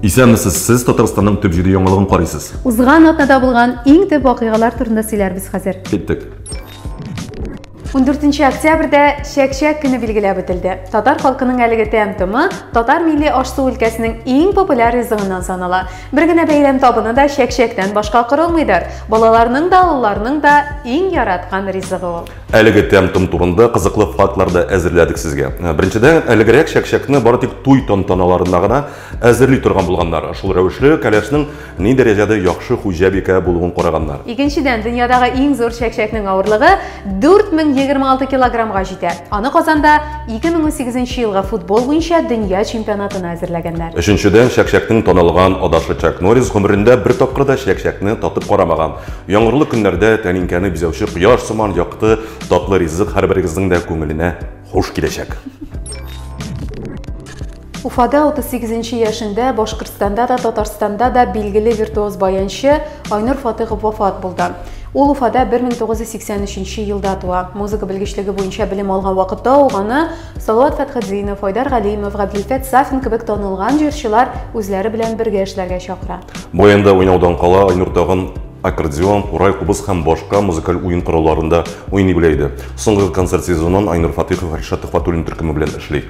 Исәнмесез, сез Татарстанның төп җиде яңалыгын карыйсыз. Узган атнада булган иң төп вакыйгалар турында сөйләрбез хәзер. Киттек. 14 октябрьдә чәк-чәк көне билгеләп үтелде. Татар халкының әлеге тәм-томы татар милли аш-су өлкәсенең иң популяр ризыгыннан санала. Бер генә бәйрәм табыны да чәк-чәктән башка корылмыйдыр. Балаларның да, олыларның да иң яраткан ризыгы ул. Әлеге тәм-том турында кызыклы фактлар да әзерләдек сезгә. Беренчедән, әлегрәк чәкчәкне бары тик туй тантаналарына гына әзерли торган булганнар. Шул рәвешле кәләшнең ни дәрәҗәдә яхшы хуҗабикә булуын караганнар. Икенчедән, дөньядагы иң зур чәкчәкнең авырлыгы 4026 килограммга җитә. Аны Казанда 2008 елгы футбол буенча дөнья чемпионатына әзерләгәннәр. Өченчедән, чәкчәкнең таналган адашы Чак Норрис гомерендә бер тапкыр да чәкчәкне татып карамаган. Яңгырлы көннәрдә тәлинкәне бизәүче кояш сыман якты, татлы ризык һәрберегезнең дә күңеленә хуш киләчәк. Уфада 38 нче яшендә Башкортстанда да, Татарстанда да билгеле виртуоз баянчы Айнур Фатыйхов вафат булды. Ул Уфада 1983 елда туа. Музыка белгечлеге буенча белем алган вакытта ук аны Салават Фәтхетдинов, Айдар Галимов, Габделфәт Сафин кебек танылган җырчылар үзләре белән бергә эшләргә чакыра. Баянда уйнаудан кала Айнур тагын аккордеон, курай, кубыз һәм башка музыкаль уен коралларында уйный белә иде. Соңгы концерт сезонын Айнур Фатыйхов Ришат Төхватуллин төркеме белән эшли.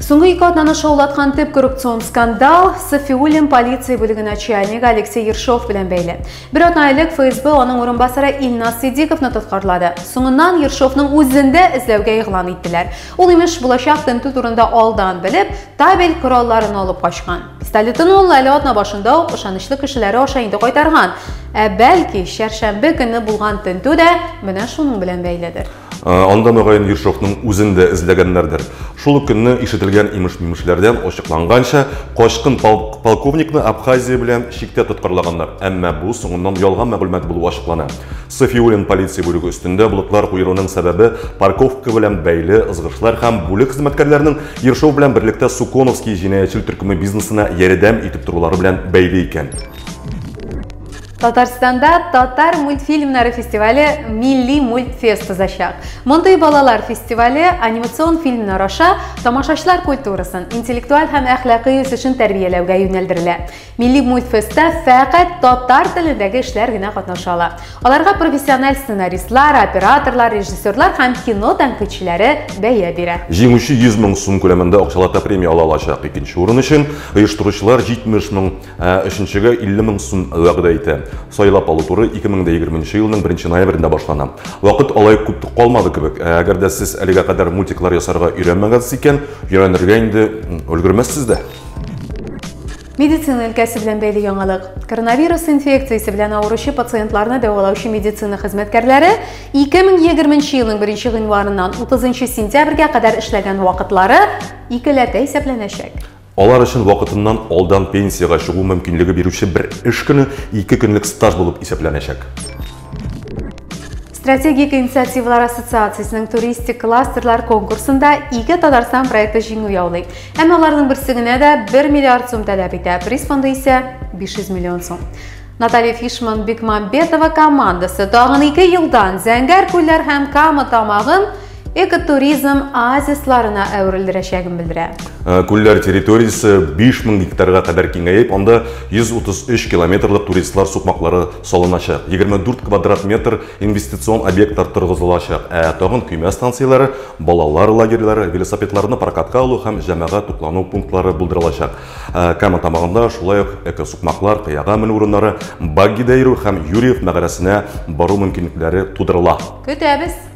Соңгы ике атнаны шаулаткан төп коррупцион скандал Сафиуллин полиция бүлеге начальнигы Алексей Ершов белән бәйле. Бер атна элек ФСБ аның урынбасары Илназ Сидиковны тоткарлады. Соңыннан Ершовның үзен дә эзләүгә игълан иттеләр. Ул имеш булачак тентү турында алдан белеп, табель коралларын алып качкан. Столетоны ул әле атна башында ук ышанычлы кешеләре аша инде кайтарган. Ә бәлки, чәршәмбе көне булган тентү дә менә шуның белән бәйледер. Анда мөгаен Ершовның үзен дә эзләгәннәрдер. Шул ук көнне ишетелгән имеш-мимешләрдән ачыкланганча, качкын полковникны Абхазия белән чиктә тоткарлаганнар, әмма бу соңыннан ялган мәгълүмат булу ачыклана. Сафиуллин полиция бүлеге өстендә блоклар куеруның сәбәбе парковка белән бәйле ызгышлар һәм бүлек хезмәткәрләренең Ершов белән берлектә Суконовский җинаятьчел төркеме бизнесына ярдәм итеп торулары белән бәйле икән. Татарстанда татар мультфильмнары фестивале Милли мультфест узачак. Мондый балалар фестивале анимацион фильмнар аша тамашачылар культурасын, интеллектуаль һәм әхлакый үсешен тәрбияләүгә юнәлдерелә. Милли мультфестта фәкать татар телендәге эшләр генә катнаша ала. Аларга профессиональ сценаристлар, операторлар, режиссерлар һәм кино тәнкыйтьчеләре бәя бирә. Җиңүче 100 мең сум күләмендә акчалата премия ала алачак. Икенче урын өчен оештыручылар 70 мең, ә өченчегә 50 мең сум вәгъдә итә. Сайлап алу туры 2020 нче елның 1 нче ноябрендә башлана. Вакыт алай күп калмады кебек. Ә әгәр дә сез әлегә кадәр мультиклар ясарга өйрәнмәгәнсез икән, өйрәнергә инде өлгермәссез дә. Медицина өлкәсе белән бәйле яңалык. Коронавирус инфекциясе белән авыручы пациентларны дәвалаучы медицина хезмәткәрләре 2020 елның 1 гыйнварыннан 30 сентябрьгә кадәр эшләгән вакытлары икеләтә исәпләнәчәк. Алар өчен вакытыннан алдан пенсиягә чыгу мөмкинлеге бирүче бер эш көне ике көнлек стаж булып исәпләнәчәк. Стратегик инициативалар ассоциациясенең туристик кластерлар конкурсында ике Татарстан проекты җиңү яулый. Әмма аларның берсе генә дә 1 миллиард сум таләп итә, приз фонды исә 500 миллион сум. Наталья Фишман Бекмамбетова командасы тагын ике елдан Зәңгәр күлләр һәм Кама тамагын экотуризм оазисларына әверелдерәчәген белдерә. Э, күлләр территориясе 5000 гектарга кадәр киңәеп, анда 133 километрлык туристлар сукмаклары салыначак. 24 квадрат метр инвестицион объектлар торгызылачак, ә тагын көймә станцияләре, балалар лагерьлары, велосипедларны прокатка алу һәм җәмәгать туклану пунктлары булдырылачак. Э, Кама тамагында шулай ук экосукмаклар, кыяга менү урыннары, баггида йөрү һәм Юрьев мәгарәсенә бару мөмкинлекләре тудырыла. Көтәбез!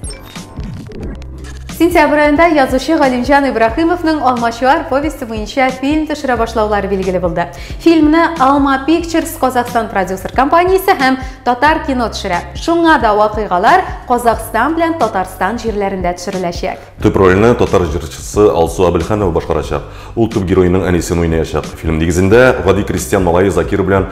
Сентябрь аенда язучы Галимҗан Ибрахимовның Алмачуар повесте буенча фильм төшерә башлаулары билгеле булды. Фильмны Алма Pictures Казахстан продюсер компаниясе һәм Татар кино төшерә. Шуңа да вакыйгалар Казахстан белән Татарстан җирләрендә төшереләчәк. Төп рольне татар җырчысы Алсу Абелханова башкарачак. Ул төп героеның әнисен уйнаячак. Фильм нигезендә гади крестьян малае Закир белән